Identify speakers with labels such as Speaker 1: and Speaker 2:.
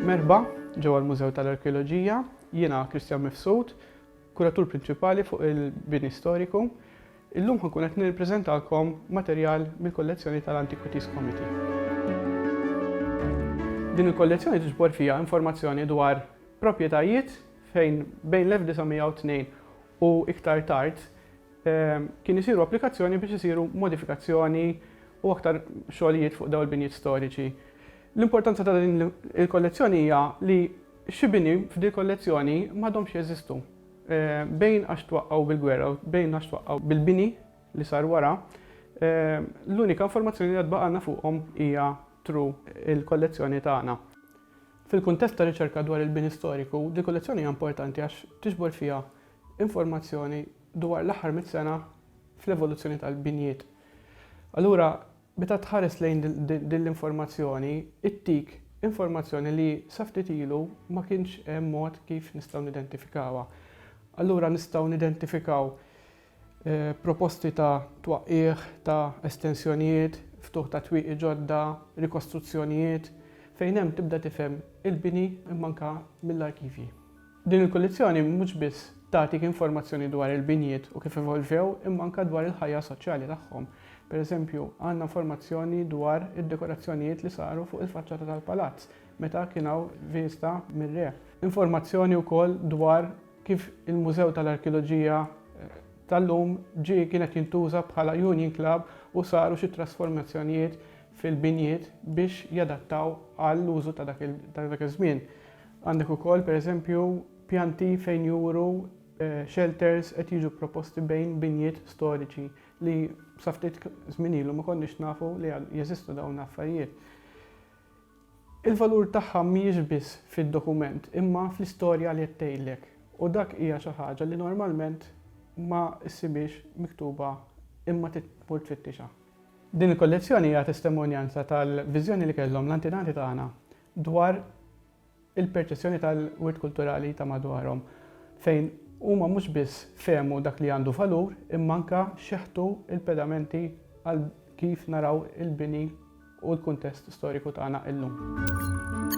Speaker 1: Merħba, ġewwa l-Mużew tal-Arkeoloġija, jiena Kristjan Mifsud, kuratur prinċipali fuq il-bini storiku. Illum ħa nkun qed nippreżentalkom materjal mill-kollezzjoni tal-Antiquities Committee. Din il-kollezzjoni tiġbor fiha informazzjoni dwar proprjetajiet fejn bejn l-1902 u iktar tard kien isiru applikazzjoni biex isiru modifikazzjoni u aktar xogħlijiet fuq dawn il-binjiet storiċi. L-importanza ta' din il-kollezzjoni hija li xi bini f'din il-kollezzjoni m'għadhomx jeżistu. Bejn għax twaqqgħu bil-gwerra u bejn għax twaqqgħu bil-bini li sar wara, l-unika informazzjoni li għad baqgħalna fuqhom hija through il-kollezzjoni tagħna. Fil-kuntest ta' riċerka dwar il-bini storiku, dil-kollezzjoni hija importanti għax tiġbor fiha informazzjoni dwar l-aħħar mitt sena fl-evoluzzjoni tal-binjiet. Allura, Meta tħares lejn din l-informazzjoni, ittik informazzjoni li sa ftit ilu ma kienx hemm mod kif nistgħu nidentifikawha. Allura nistgħu nidentifikaw proposti ta' twaqqigħ ta' estensjonijiet, ftuħ ta' twieqi ġodda, rikostruzzjonijiet, fejn hemm tibda tifhem il-bini imma anke mill-arkivji. Din il-kullizzjoni mhux biss tagħtik informazzjoni dwar il-binjiet u kif evolvew imma anke dwar il-ħajja soċjali tagħhom. Per eżempju, għandna informazzjoni dwar id-dekorazzjonijiet li saru fuq il-faċċata tal-palazz meta kien hawn viżta mir-re. Informazzjoni wkoll dwar kif il-Mużew tal-Arkeoloġija tal-lum ġie kien qed jintuża bħala Union Club u saru xi trasformazzjonijiet fil-binjiet biex jadattaw għall-użu ta' dak iż-żmien. Għandek ukoll, per eżempju, pjanti fejn juru shelters qed jiġu proposti bejn binjiet storiċi li sa ftit żmien ilu ma konniex nafu li jeżistu dawn l-affarijiet. Il-valur tagħha mhijiex biss fid-dokument imma fl-istorja li qed tgħidlek u dak hija xi ħaġa li normalment ma ssibhiex miktuba imma trid tmur tfittixha. Din il-kollezzjoni hija testimonjanza tal-viżjoni li kellhom l-antenati tagħna dwar il-perċezzjoni tal-wirt kulturali ta' madwarhom, fejn huma mhux biss fehmu dak li għandu valur imma anke xeħtu l-pedamenti għal kif naraw il-bini u l-kuntest storiku tagħna illum.